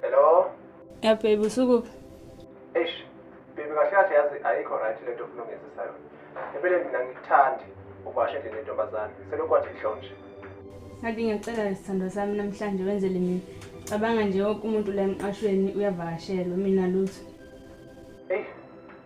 Hello? Ya baby usukuphi? Eish, baby kahle kahle yazi ayikho right lento ofuna ungenzisa yona. Empeleni mina ngikuthandi ubashe nje lentombazane. Selokhu wathi ihlonje. Ngathi ngiyacela isithandwa sami namhlanje wenzele mina. Cabanga nje wonke umuntu la emqashweni uyavakashelwa mina lutho.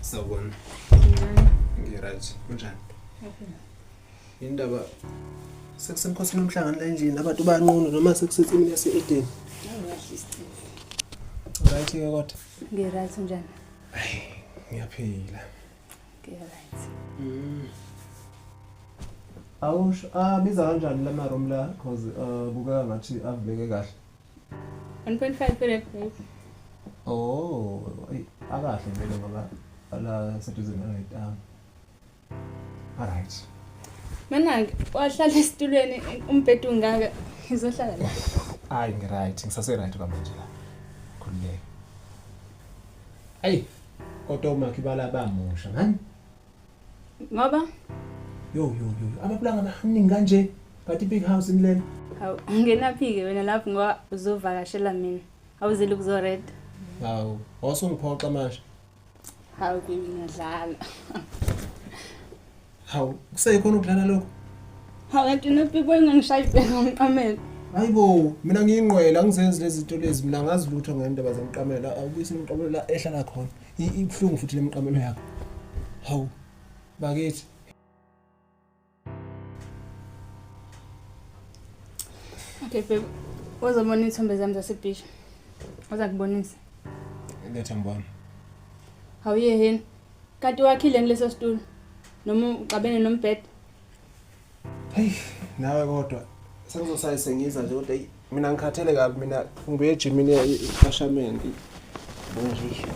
Sawubona. Ngiryt. Kunjani? Indaba sekusemkhosini umhlangano la endlini abantu banqunu noma sekusithi mina se-Eden. Right ke kodwa. Ngiryt njani? Ay, ngiyaphila. Ngiyaphila. Mm. Awusho abiza ah, kanjani la ma room la cause uh, kubeka ngathi avuleke kahle. 1.5 per acre. Oh, ay akahle vele ngoba ala seduze naletamu. Alright. Manake wahlala esitulweni umbhedo ungaka ngizohlala la. Hayi ngiright ngisase right kwamanje la. Khululeka. Hey kodwa umakhi balabamusha ngani? Ngoba yo yo yo ababulanga baningi kanje but big house in lena. Hawu ngenaphi-ke wena lapho ngoba uzovakashela mina awuzile ukuzoreda. Hawu wasungiphoxa manje. Hawu kimi ngiyadlala. Hawu kusekhona ukudlala lokho? Hawu kanti nopikwe ngangishaya ibheka ngomqamelo. Hayi bo mina ngiyingqwela ngizenzi lezi zinto lezi mina ngazi lutho ngendaba zomqamelo awubuyise umqamelo la ehlala khona ibuhlungu futhi lemqamelo yakho. Hawu bakithi Okay babe, uzobona iy'thombe zami zasebhishi. Uza kubonisa. Letha ngibona. Hawuye yini? Kanti wakhile ngileso situlo. Noma uxabene nombhede. Hey, nawe kodwa sengizosayise ngiza nje kodwa mina ngikhathele kabi mina ngibuye ejimini ikashamenti bonjisho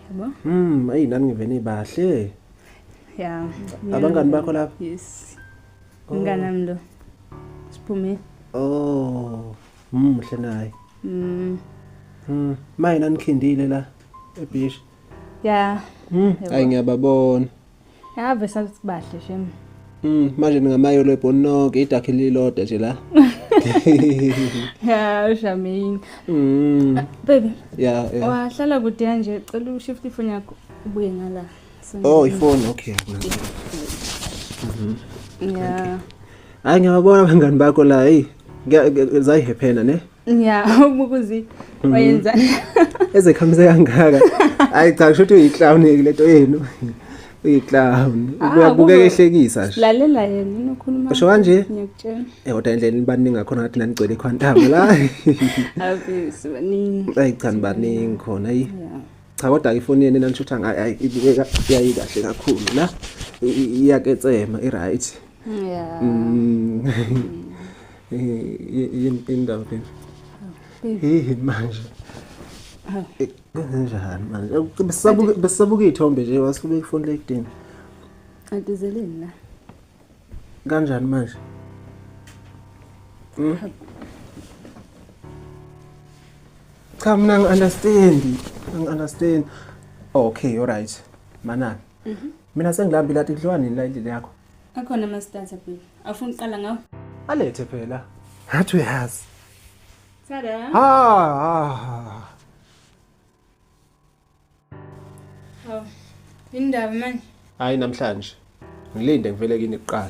yabo mm ayi nami ngivene bahle ya abangani bakho lapha yes oh. ngana mlo siphume oh mm hle naye mm mm maye nanikhindile la ebish ya mm ayi ngiyababona Ave sathi bahle shem. Mm manje ningamayo lebhoni nonke idakhe lilodwa nje la. Yeah, Shamin. Mm. Baby. Yeah, yeah. Wahlala kude kanje cela ushift ifoni yakho ubuye ngala. Oh, ifoni okay. Mhm. Yeah. Hayi ngiyabona abangani bakho la, hey. Zayihephena ne? ya umukuzi mhm. wayenza eze khamise kangaka hayi cha kusho ukuthi uyiclown lento yenu uyiclown ah, uyabuka ehlekisa nje lalela yena unokhuluma usho kanje ngiyakutshela eh kodwa indlela nibaningi ngakhona ngathi nanigcwele ikhwantamo la happy sibaningi hayi cha nibaningi khona yi cha kodwa ifoni yenu nanishutha ngayo ibukeka yayi kahle kakhulu la iyaketsema i right Yeah. Mm. Yini indawo baby? Hey manje. Eh, Kunjani manje? Besabuke besabuke ithombe nje wasifube ifoni lekudini. Antizeleni la. Kanjani manje? Mm. Cha mina ngi-understand, ngi-understand. Okay, all right. Manani. Mhm. Mina sengilambile athi kudliwa nini la endlini yakho? Akhona ama starter phela. Afuna uqala ngawo. Alethe phela. Ngathi uyazi. Tada. Ah. Oh. Indaba manje. Hayi namhlanje. Ngilinde ngivele kini kuqala.